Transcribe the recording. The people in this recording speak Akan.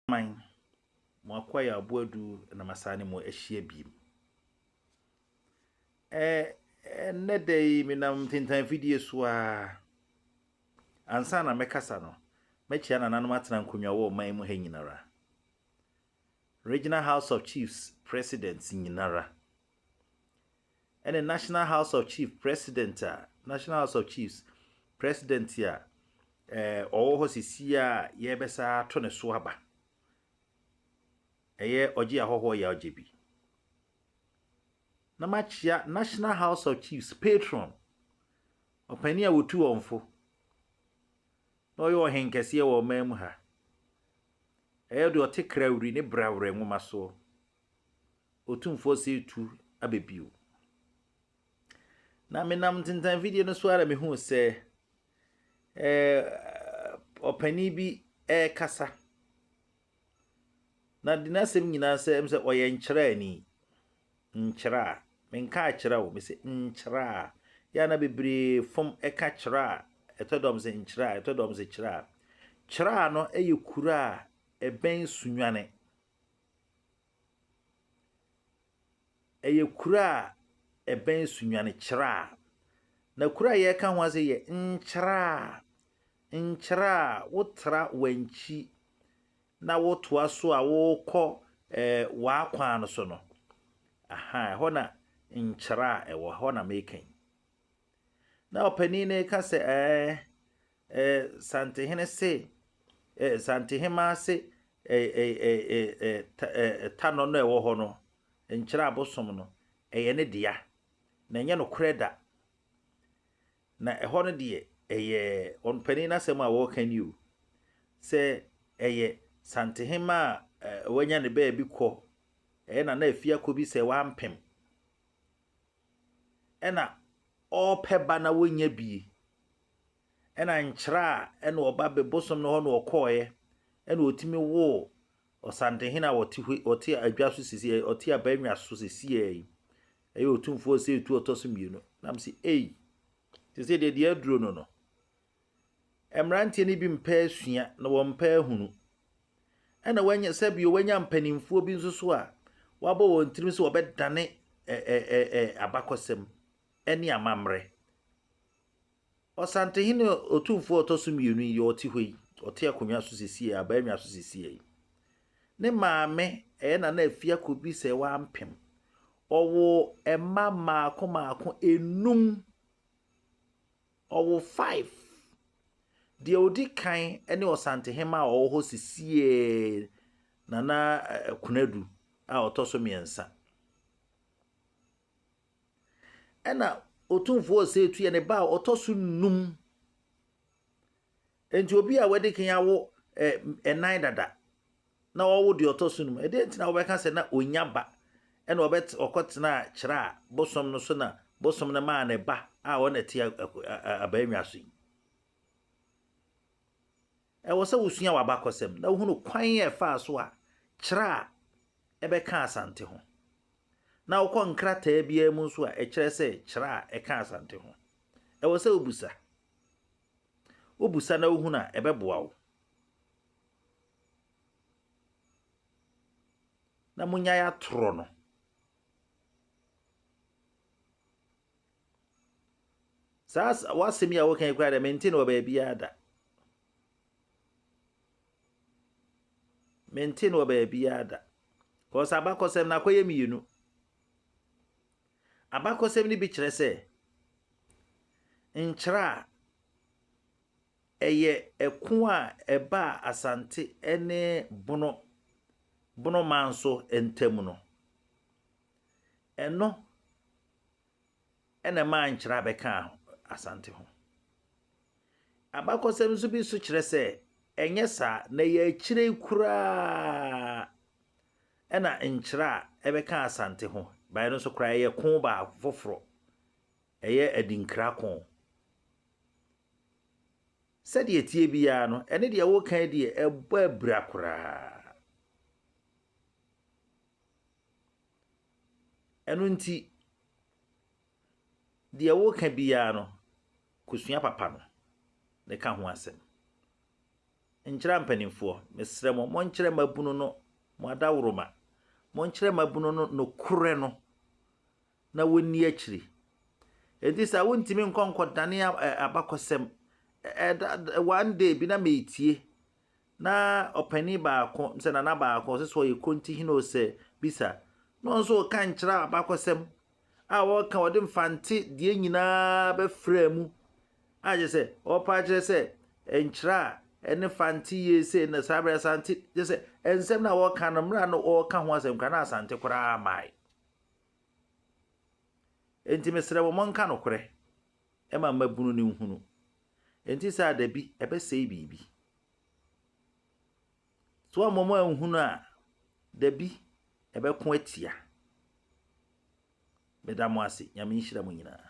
Aman, mo akoa yɛ aboa du na masan ne mo ahyia biem. Ɛ, ɛnnɛ da yi menam ntentan fidie so ara. Ansa na mɛkasa no, mɛkyia nananom atena nkonnwa wɔ ɔman mu ha nyinara. Regional House of Chiefs Presidents nyinara. ɛne National House of Chiefs President a National House of Chiefs President a ɛɛ ɔwɔ hɔ sisi a yɛbɛsa ato ne so aba ɛyɛ ɔgye ahɔhoɔ yɛ ɔgye bi na makyia National House of Chiefs patron ɔpanin a wɔtu wɔn fo na ɔyɛ ɔhen kɛseɛ wɔ ɔman mu ha ɛyɛ deɛ ɔte krawuri ne brawrɛ nwoma soɔ. Otumfoɔ se tu aba bio. Na menam ntentan video no so ara mehuu sɛ eh, ɔpanin bi rekasa. Na de n'asɛm nyinaa sɛ m sɛ ɔyɛ nkyerɛani. Nkyerɛ a, menka akyerɛ wo, mesɛ nkyerɛ a. Yɛ na bebree fam ɛka kyerɛ a, ɛtɔ dɔm sɛ nkyerɛ a, ɛtɔ dɔm sɛ kyerɛ a. Kyerɛ a no yɛ kuro a ɛbɛn Sunyane. Ɛyɛ kuro a ɛbɛn Sunyani Kyraa. Na kuro a yɛreka ho asɛm yi yɛ Nkyraa. Nkyraa, wotra Wankyi na wotoa so a wokɔ ɛɛ Waa kwan no so no, ahaa ɛhɔ na Nkyraa wɔ, ɛhɔ na meka yi. Na ɔpanin no reka sɛ, Ɛɛ, ɛɛ, Santehene se, ɛɛ, Santehemaa se, ɛɛ, ɛɛ, ɛɛ, ɛɛ, ɛɛ, ta, ɛɛ, tanɔ no a ɛwɔ hɔ no, nkyerɛ abosom no, ɛyɛ ne dea, na ɛnyɛ nokorɛ da. Na ɛhɔ no deɛ, ɛyɛ ɔpanin no asɛm a wɔreka ni o, sɛ ɛyɛ Santehemaa a ɛɛ, wanya ne baabi kɔ, ɛyɛ Nana Afiakobi sɛ wampem. ɛna ɔɔpɛ ba na wonnya bie, ɛna nkyerɛ a ɛna ɔba be bosom no hɔ na ɔkɔɔeɛ, ɛna ɔtumi woo Ɔsantehene a ɔte hɔ ɔte adwa so sisi ɔte abannwa so sisiɛ yi, ɛyɛ Otumfoɔ Ɔsɛetu Ɔtɔso mmienu, nam se ei, te sɛ deɛ deɛ aduro no no, Mmeranteɛ no bi mpɛ asua na wɔmpɛ ahunu. Ɛna wanya sɛ bio wanya mpanimfoɔ bi nso so a wɔabɔ wɔn tirim sɛ wɔbɛdane ɛ ɛ ɛ ɛ abakɔsɛm ne amammerɛ. Ɔsantehene otumfoɔ a ɔtɔ so mmienu yi, ɔte hɔ yi, ɔte akonnwa so sesie, abaanwa so sesie yi. Ne maame ɛyɛ Nana Afiako bi sɛ wampem. Ɔwɔ mma mmaako mmaako enum. Ɔwo five. Deɛ ɔdi kan ne Ɔsantehema a ɔwɔ hɔ sesieɛ, Nana Konadu a ɔtɔ so mmiɛnsa. Ɛna Otumfoɔ Osetu yɛ ne ba a ɔtɔ so nnum. Enti obi a wadi kan awo nnan dada na ɔrewo deɛ ɔtɔ so no mu, ɛdeɛn nti na wobɛka sɛ na ɔnya ba na ɔkɔtenaa kyerɛ a bosom no so na bosom no maa ne ba a ɔna ti abaanwa so yi? Ɛwɔ sɛ wosua w'abakɔsɛm na wohunu kwan a ɛfaa so a kyerɛ a ɛbɛka Asante ho. Na wokɔ nkrataa biara mu nso a ɛkyerɛ sɛ kyerɛ a ɛka Asante ho. Ɛwɔ sɛ wobisa. Wobisa na wohunu a, ɛbɛboa wo. Na monnyae atorɔ no. Saa w'asɛm yi a woka yi koraa dɛ mente no wɔ baabiara da. Mente no wɔ baabiara da. Kɔɔ sɛ abakɔsɛm no akɔyɛ mmienu. Abakɔsɛm no bi kyerɛ sɛ nkyerɛ a ɛyɛ ɛko a ɛbaa Asante ne Bono Bono manso ntam no, ɛno na ɛmaa nkyerɛ a bɛkaa Asante ho. Abakɔsɛm nso bi nso kyerɛ sɛ ɛnyɛ saa, na ɛyɛ akyire yi koraa Ɛna nkyerɛ a ɛbɛka Asante ho bae no nso koraa ɛyɛ ko baako foforɔ, ɛyɛ Adinkra ko. Sɛdeɛ ɛteɛ biara no, ɛne deɛ woka yi deɛ ɛbɔ abira koraa. Ɛno nti, deɛ woka biara no, kɔsua papa no na ɛka ho asɛm. Nkyerɛ mpanimfoɔ. Mesrɛ mo, monkyerɛ mmabunu no mo adaworoma. Monkyerɛ mmabunu no nokorɛ no, na wɔnni akyiri. Enti saa wontumi nkɔ nkɔdane abakɔsɛm. One day bi na meretie, na ɔpanin baako, sɛ nana baako, ɔsɛ sɛ ɔyɛ Konti hene o sɛ bisa, na ɔno nso reka nkyerɛ abakɔsɛm a wɔka wɔde Mfante deɛ nyina ara bɛfraa mu a kyerɛ sɛ wɔpa akyerɛ sɛ nkyerɛ a ɛne Fante yie sei na saa berɛ Asante kyerɛ sɛ nsɛm no a wɔka no mmerɛ a no wɔka ho asɛm kora na Asante koraa mae. Enti mesrɛ mo monka nokorɛ ɛma mmabunu no nhunu. Enti saa da bi ɛbɛsɛe biribi. So ama wɔn ahunu a? Dabi, ɛbɛko atia. Meda mo ase. Nyame nhyira mo nyinaa.